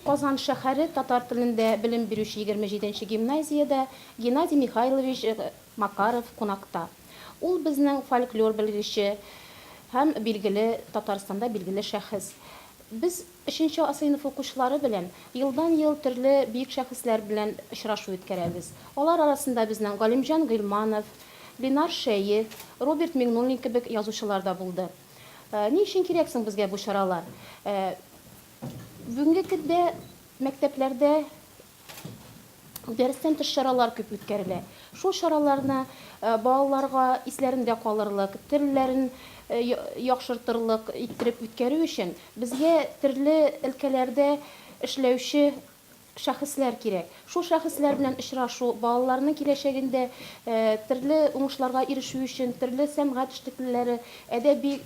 Казан шәһәре татар телендә белем бирүче 27 нче гимназиядә Геннадий Михайлович э, Макаров кунакта. Ул безнең фольклор белгече һәм билгеле Татарстанда билгеле шәхес. Без Өченче А сыйныфы укучылары белән елдан-ел төрле бөек шәхесләр белән очрашу үткәрәбез. Алар арасында безнең Галимҗан Гыйльманов, Ленар Шәех, Роберт Миңнуллин кебек язучылар да булды. Ни өчен кирәк соң безгә бу чаралар? Бүгенге көндә мәктәпләрдә Дәрестән тыш чаралар күп үткәрелә. Шул чараларны балаларга исләрендә калырлык, телләрен яхшыртырлык иттереп үткәрү өчен безгә төрле өлкәләрдә эшләүче шәхесләр кирәк. Шул шәхесләр белән очрашу, балаларның киләчәгендә төрле уңышларга ирешүе өчен төрле сәнгать эшлеклеләре, әдәби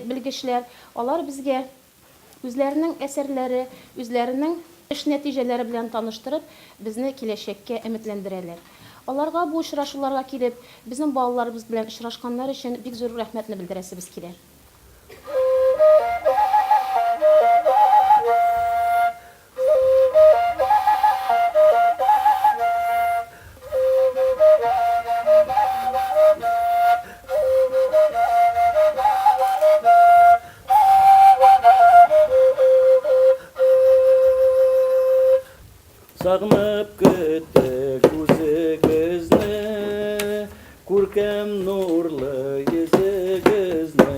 белгечләр, алар безгә Үзләренең әсәрләре, үзләренең эш нәтиҗәләре белән таныштырып, безне киләчәккә өметләндерәләр. Аларга бу очрашуларга килеп, безнең балаларыбыз белән очрашканнары өчен бик зур рәхмәтне белдерәсебез килә. Сагынып көттек үзегезне, Күркәм нурлы йөзегезне.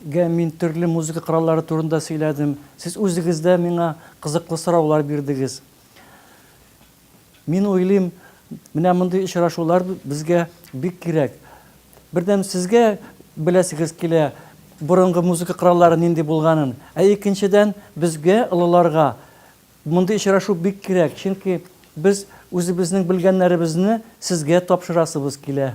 Гә мин төрле музыка кораллары турында сөйләдем. Сез үзегез дә миңа кызыклы сораулар бирдегез. Мин уйлыйм, менә мондый очрашулар безгә бик кирәк. Бердәм сезгә беләсегез килә, борынгы музыка кораллары нинди булганын. Ә икенчедән, безгә, олыларга, мондый очрашу бик кирәк, чөнки без үзебезнең белгәннәребезне сезгә тапшырасыбыз килә.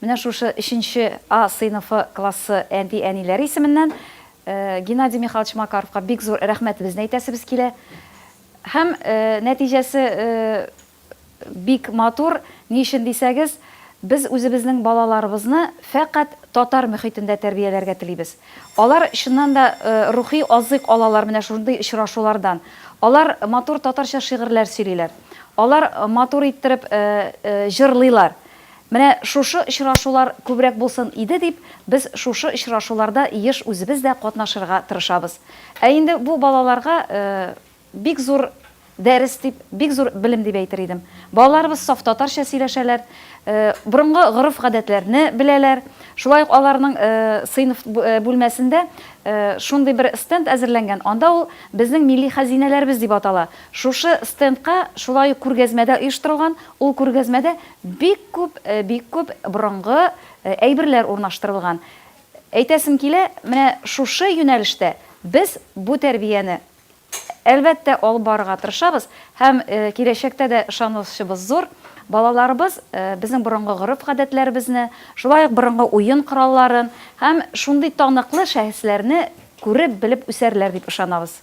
Менә шушы өченче А сыйныфы классы әти-әниләре исеменнән Геннадий Михайлович Макаровка бик зур рәхмәтебезне әйтәсебез килә. Һәм нәтиҗәсе бик матур, ни өчен дисәгез, без үзебезнең балаларыбызны фәкать татар мөхитендә тәрбияләргә телибез. Алар чыннан да рухи азык алалар менә шундый очрашулардан. Алар матур татарча шигырьләр сөйлиләр. Алар матур иттереп җырлыйлар. Менә шушы очрашулар күбрәк булсын иде дип, без шушы очрашуларда еш үзебез дә катнашырга тырышабыз. Ә инде бу балаларга бик зур дәрес дип, бик зур белем дип әйтер идем. Балаларыбыз саф татарча сөйләшәләр, борынгы гореф-гадәтләрне беләләр. Шулай ук аларның сыйныф бүлмәсендә шундый бер стенд әзерләнгән, анда ул Безнең милли хәзинәләребез дип атала. Шушы стендка шулай ук күргәзмә дә оештырылган, ул күргәзмәдә Бик күп, бик күп борынгы әйберләр урнаштырылган. Әйтәсем килә, менә шушы юнәлештә без бу тәрбияне, әлбәттә, алып барырга тырышабыз һәм киләчәктә дә ышанычыбыз зур, балаларыбыз безнең борынгы гореф-гадәтләребезне, шулай ук борынгы уен коралларын һәм шундый таныклы шәхесләрне күреп, белеп үсәрләр дип ышанабыз.